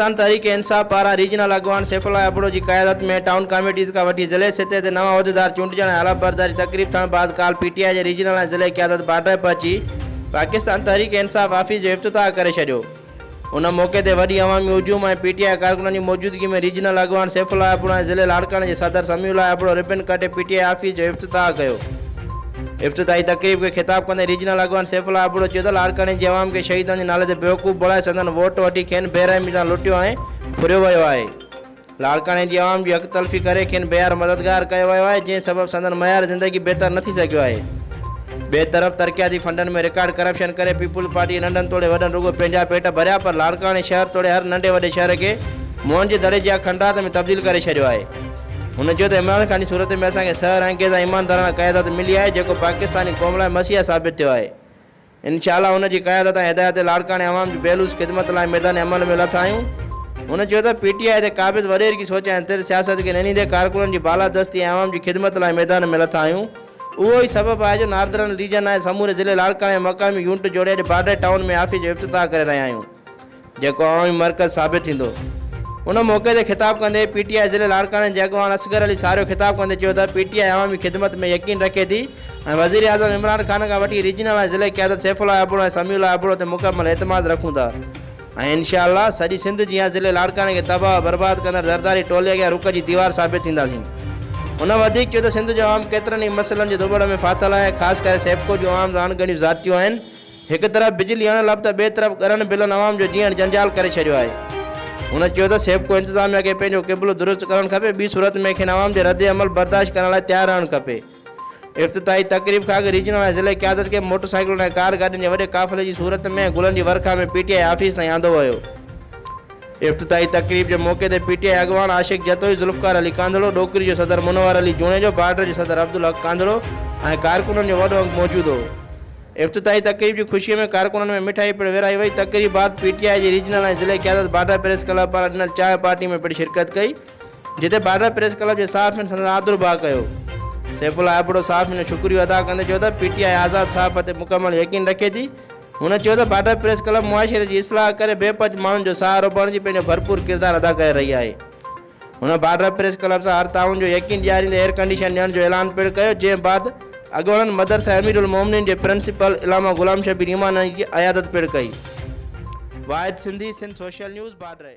پاڪستان تحريڪ انصاف پاران ريجنل اڳواڻ سيف الله ابڙو جي قيادت ۾ ٽائون ڪاميٽيز کان وٺي ضلعي سطح تي نوان عهديدار چونڊجڻ ۽ حلف برداري تقريب ٿيڻ بعد ڪالهه پي ٽي آء جي ريجنل ۽ ضلعي قيادت بارڊر پهچي پاڪستان تحريڪ انصاف آفيس جو افتتاح ڪري ڇڏيو. ان موقعي تي وڏي عوامي هجوم ۽ پي ٽي آء ڪارڪنن جي موجودگي ۾ ريجنل اڳواڻ سيف الله ابڙو ۽ ضلعي لاڙڪاڻي جي صدر سميع الله ابڙو ربن ڪٽي پي ٽي آء آفيس جو افتتاح ڪيو. افتتاحي تقريب کي خطاب ڪندي ريجنل اڳواڻ سيف الله ابڙو چيو ته لاڙڪاڻي جي عوام کي شهيدن جي نالي تي بيوقوف بڻائي سندن ووٽ وٺي کين بي رحمي سان لٽيو ۽ ڦريو ويو آهي لاڙڪاڻي جي عوام جي حق تلفي ڪري کين بيار مددگار ڪيو ويو آهي جنهن سبب سندن معيار زندگي بهتر نه ٿي سگهيو آهي ٻئي طرف ترقياتي فنڊن ۾ رڪارڊ ڪرپشن ڪري پيپلز پارٽي ننڍن توڙي وڏن رڳو پنهنجا پيٽ ڀريا پر لاڙڪاڻي شهر توڙي هر ننڍي وڏي شهر کي موهن جي دڙي جيان کنڊرات ۾ تبديل ڪري ڇڏيو آهي. هن چيو ته عمران خان جي صورت ۾ اسان کي سحر انگيز ۽ ايماندارانه قيادت ملي آهي جيڪو پاڪستاني قوم لاء مسيحا ثابت ٿيو آهي. انشاء الله هن جي قيادت ۽ هدايت تي لاڙڪاڻي عوام جي بي لوث خدمت لاء ميدان عمل ۾ لٿا آهيون. هن چيو ته پي ٽي آء تي قابض وڏيري جي سوچ ۽ تر سياست کي ننهيندي ڪارڪنن جي بالادستي ۽ عوام جي خدمت لاء ميدان ۾ لٿا آهيون اهو ئي سبب آهي جو ناردرن ريجن ۽ سموري ضلعي لاڙڪاڻي ۾ مقامي يونٽ جوڙي اڄ بارڊر ٽائون ۾ آفيس جو افتتاح ڪري رهيا آهيون. جيڪو عوامي مرڪز ثابت ٿيندو. ان موقعي تي خطاب ڪندي پي ٽي آء ضلعي لاڙڪاڻي جي اڳواڻ اصغر علي ساريو خطاب ڪندي چيو ته پي ٽي آء عوامي خدمت ۾ يقين رکي ٿي ۽ وزيراعظم عمران خان کان وٺي ريجنل ۽ ضلعي قيادت سيف الله ابڙو ۽ سميع الله ابڙو تي مڪمل اعتماد رکون ٿا ۽ انشاء الله سڄي سنڌ جيان ضلعي لاڙڪاڻي کي تباهه برباد ڪندڙ زرداري ٽولي اڳيان رڪ جي ديوار ثابت ٿينداسين. هن وڌيڪ چيو ته سنڌ جو عوام ڪيترن ئي مسئلن جي ڌوٻڙ ۾ ڦاٿل آهي خاص ڪري سيپڪو جون عوام سان اڻ ڳڻيون زيادتيون آهن، هڪ طرف بجلي اڻ لڀ ته ٻئي طرف ڳرن بلن عوام جو جيئڻ جنجال ڪري ڇڏيو آهي. هن چيو ته سيپڪو انتظاميا کي پنهنجو قبلو درست ڪرڻ کپي ٻي صورت ۾ کين عوام جي رد عمل برداشت ڪرڻ لاء تيار رهڻ کپي. افتتاحي تقريب کان اڳ ريجنل ۽ ضلعي قيادت کي موٽر سائيڪلن ۽ ڪار گاڏين جي وڏي قافلي جي صورت ۾ گلن جي ورکا ۾ پي ٽي آء آفيس تائين آندو ويو. افتتاحي تقريب جي موقعي تي پي ٽي آء اڳواڻ عاشق جتوئي، ذوالفقار علي ڪانڌڙو، ڏوڪري جو صدر منور علي جوڻيجو، بارڊر جو صدر عبدالحق ڪانڌڙو ۽ ڪارڪنن جو وڏو انگ موجود هو. افتتاحي تقريب جي خوشي ۾ ڪارڪنن ۾ مٺائي پڻ ورهائي وئي، تقريب بعد پي ٽي آء جي ريجنل ۽ ضلعي قيادت باڊا پريس ڪلب پاران ڏنل چانهه پارٽي ۾ پڻ شرڪت ڪئي، جتي باڊا پريس ڪلب جي صحافين سندن آڌر ڀاء ڪيو. سيف الله ابڙو صحافين جو شڪريو ادا ڪندي چيو ته پي ٽي آء آزاد صحافت تي مڪمل يقين رکي ٿي، هن چيو ته باڊا پريس ڪلب معاشري جي اصلاح ڪري بي پناهه ماڻهن جو سهارو بڻجي پنهنجو ڀرپور ڪردار ادا ڪري رهي آهي. هن بارڊر پريس ڪلب سان هر تعاون جو يقين ڏياريندي ايئر ڪنڊيشن ڏيڻ جو اعلان پڻ ڪيو جنهن بعد اڳوڻن مدرسه امير المومنين جي پرنسپل علامه غلام شبير ايمانائي جي عيادت پڻ ڪئي. Wahid Sindhi Sindh social news بارڊري.